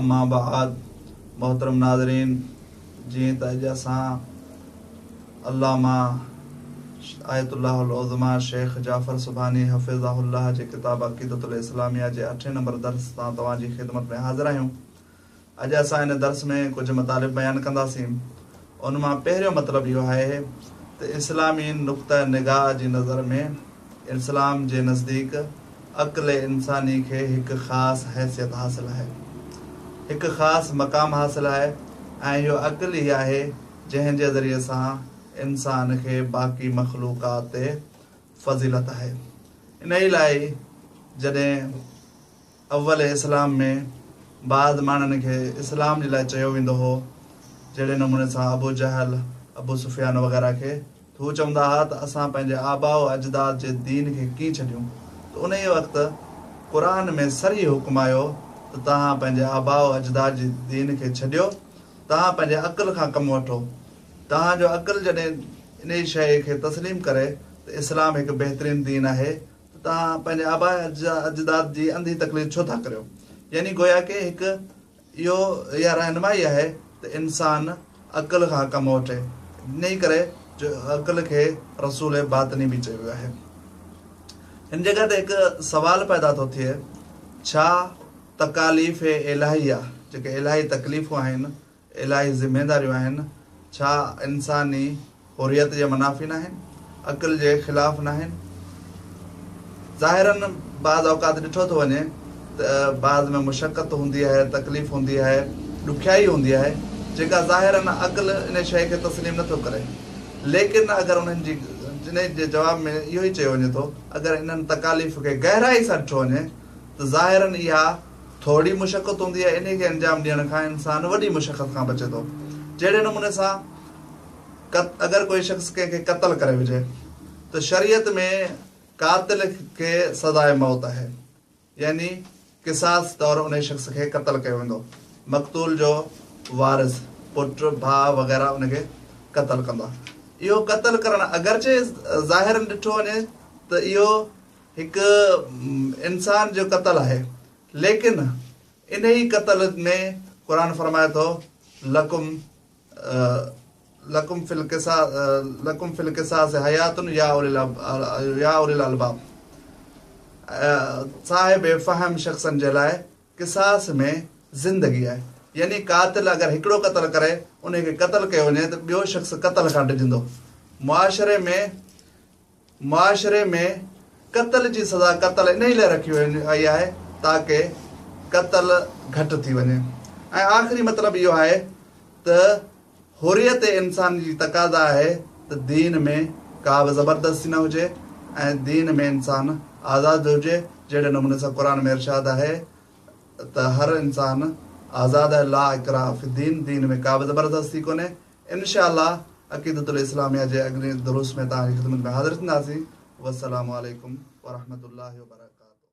اما بعد محترم ناظرين جيئن ته اڄ اسان علامه آيت الله العظميٰ شيخ جعفر سبحاني حفظه الله جي ڪتاب عقيدة الاسلاميه جي اٺين نمبر درس سان توهان جي خدمت ۾ حاضر آهيون اڄ اسان ان درس ۾ ڪجهه مطالب بيان ڪنداسين ان مان پهريون مطلب اهو آهي ته اسلامي نقطه نگاهه جي نظر ۾ اسلام جي نزديڪ عقل انساني کي هڪ خاص حيثيت حاصل آهي، هڪ خاص مقام حاصل آهي ۽ اهو عقل ئي آهي جنهن جي ذريعي سان انسان کي باقي مخلوقات تي فضيلت آهي. انهيء لاء ئي جڏهن. اول اسلام ۾ بعض ماڻهن کي اسلام جي لاء چيو ويندو هو، جهڙي نموني سان ابو جهل، ابو سفيان وغيره کي ته هو چوندا ها ته اسان پنهنجي آباء و اجداد جي دين کي ڪين ڇڏيون ته انهيء وقت قرآن ۾ صريح حڪم آيو ته توهان پنهنجي آباء و اجداد جي دين کي ڇڏيو توهان پنهنجي عقل کان ڪم وٺو توهان جو عقل جڏهن انهيء شيء کي تسليم ڪري ته اسلام هڪ بهترين دين آهي ته توهان پنهنجي آباء اجداد جي انڌي تقليد ڇو ٿا ڪريو؟ يعني گويا ڪي هڪ اهو يا رهنمائي آهي ته انسان عقل کان ڪم وٺي. انهي ڪري جو عقل کي رسول باطني به چيو ويو آهي. هن جڳهه تي هڪ سوال پيدا ٿو ٿئي ڇا تڪاليف الاهيه جيڪي الاهي تڪليفون آهن، الاهي ذميداريون آهن، ڇا انساني حريت جي منافي ناهن، عقل جي خلاف ناهن؟ ظاهراً بعض اوقات ڏٺو ٿو وڃي ته بعض ۾ مشقت هوندي آهي، تڪليف هوندي آهي، ڏکيائي هوندي آهي، جيڪا ظاهراً عقل انهي شيء کي تسليم نه ٿو ڪري. ليڪن اگر انهن جي انهي جي جواب ۾ اهو ئي چيو وڃي ٿو، اگر انهن تڪاليف کي گهرائي سان ڏٺو وڃي ته ظاهراً اها ٿورڙي مشقت هوندي آهي انهي کي انجام ڏيڻ کان انسان وڏي مشقت کان بچي ٿو جهڙي نموني سان قت اگر ڪوئي شخص ڪنهن کي قتل ڪري وجهي ته شريعت ۾ قاتل کي سزائي موت آهي يعني قصاص طور انهي شخص کي قتل ڪيو ويندو مقتول جو وارث پٽ ڀاء وغيره ان کي قتل ڪندا اهو قتل ڪرڻ اگرچه ظاهرن ڏٺو وڃي ته اهو هڪ انسان جو قتل آهي ليڪن انهي قتل ۾ قرآن فرمائي ٿو لڪم لڪم في القصا لڪم في القصاص حيات يا يا اولي الالباب صاحب فهم شخصن جي لاء قصاص ۾ زندگي آهي يعني قاتل اگر هڪڙو قتل ڪري ان کي قتل ڪيو وڃي ته ٻيو شخص قتل کان ڊڄندو معاشري ۾ معاشري ۾ قتل جي سزا قتل انهي لاء رکي وئي آهي تاڪه قتل گهٽ ٿي وڃي ۽ آخري مطلب اهو آهي ته حريت انساني جي تقاضا آهي ته دين ۾ ڪابه زبردستي نه هجي ۽ دين ۾ انسان آزاد هجي جهڙي نموني سان قرآن ۾ ارشاد آهي ته هر انسان آزاد آهي لا اڪراه في الدين دين ۾ ڪابه زبردستي ڪونهي انشاء الله عقيدة الاسلاميه جي اڳلين دروس ۾ توهان جي خدمت ۾ حاضر ٿينداسين والسلام عليڪم ورحمة الله وبرڪاته.